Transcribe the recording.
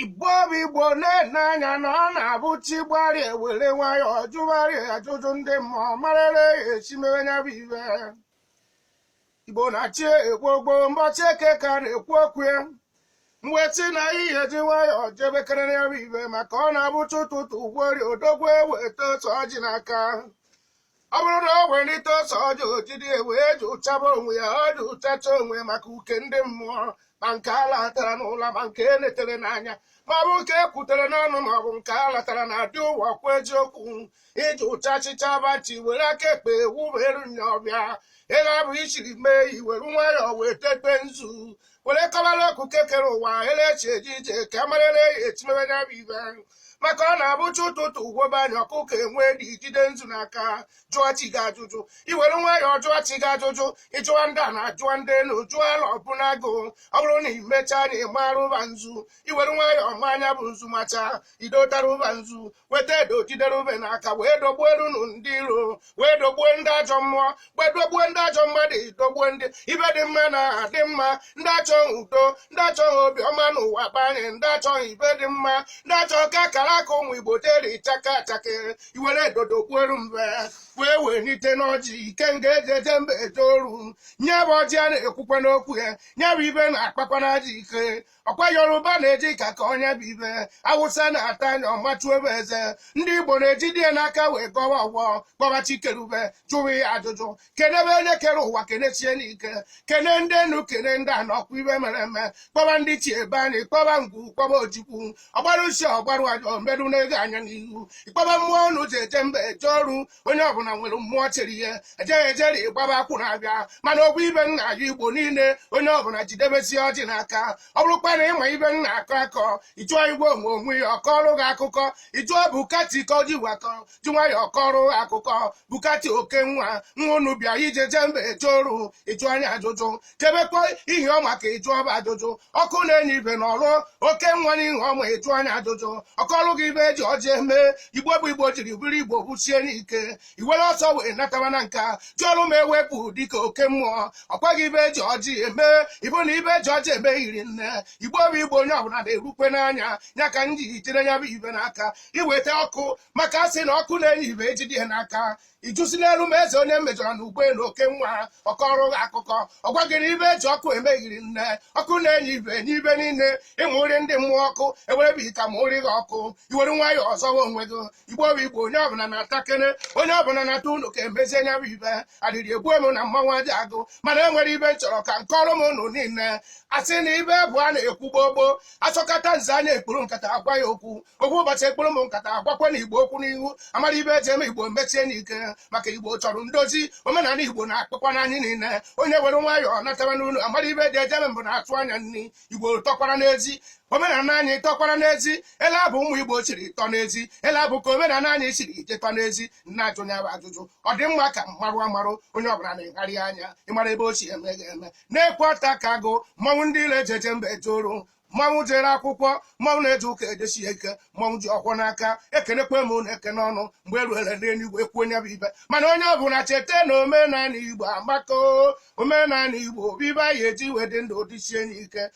igbo bụ igbo na-ene anya na ọ na-abụ chi gbari ewere nwayọọ jụgharị ajụjụ ndị mmụọ marịrị ya e si mewe ya bụ ife igbo na-achị egbogbo mbọchị eke ka a na-ekwu okwu ya mwetị na ihe ji nwayọọ jebekere ya bụ ife maka ọ na-abụcha ụtụtụ ugbori odogwu eweta ose ọjị n'aka ọ bụrụ na o welite ose ọjị o jide wee jụchaba onwe ya ọ jụchacha onwe maka uke ndị mmụọ ma nke a latara n'ụla ma nke e netere n'anya ma ọ bụ nke e kwutere n'ọnụ ma ọ bụ nke a latara na adị ụwa kwa eziokwu ị jụcha ajụcha bachi were aka ekpe wuberu nya ọfịa ebe abụ i siri mee iwere nwayọọ wee tekpe nzu were kọbara ọkụ kekere ụwa elechi ejije ka amarịla ya e si mebe ya bụ ife maka ọ na-abụcha ụtụtụ ugwobe anya ọkụkọ enwe dị jide nzu n'aka jụọ chi gị ajụjụ iwere nwayọọ jụọ chi gị ajụjụ ịjụwa ndị ana jụwa ndị elu jụọ ala obu na agụ ọ bụrụ na imechaa na ịmara ụba nzu iwere nwayọọ maa nya bụ nzu macha idotara ụba nzu weta edo jidere ube n'aka wee dogbuerunụ ndị iro wee dogbue ndị ajọ mmụọ wee dogbue ndị ajọ mmadụ dogbue ndị ife dị mma na adị mma ndị achọghị udo ndị achọghị obiọma n'ụwa be anyị ndị achọghị ife dị mma ndị achọghị ka akara aka ụmụ igbo deri chaka achaka iwere edo dogbueru mbe wee wenite ọjị ike nga eji eje mba eje oru nya bụ ọjị a na-ekwukwanụ okwu ya nya bụ ife na-akpakwanụ ajọ ike ọkwa yoruba na-eji aka akọ nya bụ ife awụsa na-ata nya ọmachu ebe eze ndị igbo na-ejide n'aka wee gọwa ọfọ kpọba chi kere ụwa jụwa ya ajụjụ kenebe onye kere ụwa kenesie nya ike kene ndị enu kene ndị ana ọkwa ife mere eme kpọba ndị chi be anyị kpọba ngwu kpọba ojukwu ọgbara usi ọgbara ajọ mbedu na-ego anya n'ihu ịkpọba mmụọ ọnụ ji eje mba eje oru onye ọbụla nwere mmụọ chịrị ihe ejeghị ejeri gbaba akwụ na-abịa mana ọ bụ ife nna ya igbo niile onye ọbụla jidebezie ọjị n'aka ọ bụrụkwa na ịma ife m na-akọ akọ ịjụọ igwe onwe onwe ya ọ kọọrụ gị akụkọ ịjụọ bukati ka oji wakọ ji nwayọ ọ kọọrụ gị akụkọ bukati oke nwa nwa unu bịa e ji eje mba eje oru ịjụ anya ajụjụ chebekwa ihe ọ maka ịjụ ọba ajụjụ ọkụ na-enye ife na ọrụ oke nwa na ihe ọma ịjụ anya ajụjụ ọ kọọlụ gị ife eji ọjị eme igbo bụ igbo jiri bụrụ igbo bụsie ike iwere ọsọ wee nataba na nka jụọrụ m ewepụ dịka oke mmụọ ọ gwa gị ife eji ọjị eme ị fụ na ife eji ọjị eme eri nne igbo bụ igbo onye ọbụla nerukwe anya ya ka m ji jide ya bụ ife n'aka iweta ọkụ maka a sị na ọkụ na-enye ife ejide ya n'aka ijusi n'elu ma eze onye mejọrọ na ukwe na oke nwa ọ kọọrọ gị akụkọ ọ gwagịrị ibe eji ọkụ emeghiri nne ọkụ na-enye ibe enye ibe niile ịmụ nri ndị mmụọ ọkụ ewerebe ita ma ori gị ọkụ iwere nwayọọ zọwa onwe gị igbo bụ igbo onye ọbụla natakene onye ọbụla nata unu ka emezie nya bụ ibe adịrị egbu emu na mmanwụ aja agụ mana enwere ibe m chọrọ ka m kọọrọ m unu niile asị na ibe bụ a na-ekwu gbogbo asọkata nze anya ekpuru nkata agwa ya okwu okwu ụbọchị ekpuru m nkata agwakwa na igbo okwu n'ihu amara ibe eji eme igbo mesie n'ike maka igbo chọrọ ndozi omenala igbo na-akpọkwanụ anyị niile onye were nwayọọ nataba n'ụlọ amara ibe eji eje eme mbụ na-atụ anya nri igbo tọkwara n'ezi omenala anyị tọkwara n'ezi ele abụ ụmụ igbo chiri tọ n'ezi ele abụ ka omenala anyị chiri jetọ n'ezi m na-ajụ nya bụ ajụjụ ọ dị mma ka m marụ amarụ onye ọbụla na-egharị anya ịmara ebe o si eme ga-eme na-ekwe ọta ka agụ mmanwụ ndị ile eji eje mba etoru mmanwụ jere akwụkwọ mmanwụ na-eje ụka edesi ya ike mmanwụ ji ọkwọ n'aka ekenekwa m unu ekene ọnụ mgbe eruere n'eluigwe ekwu onye bụ ibe mana onye ọ bụla cheta na omenala igbo amaka omenala igbo bụ ibe a ya-eji wee dị ndụ dịsie n'ike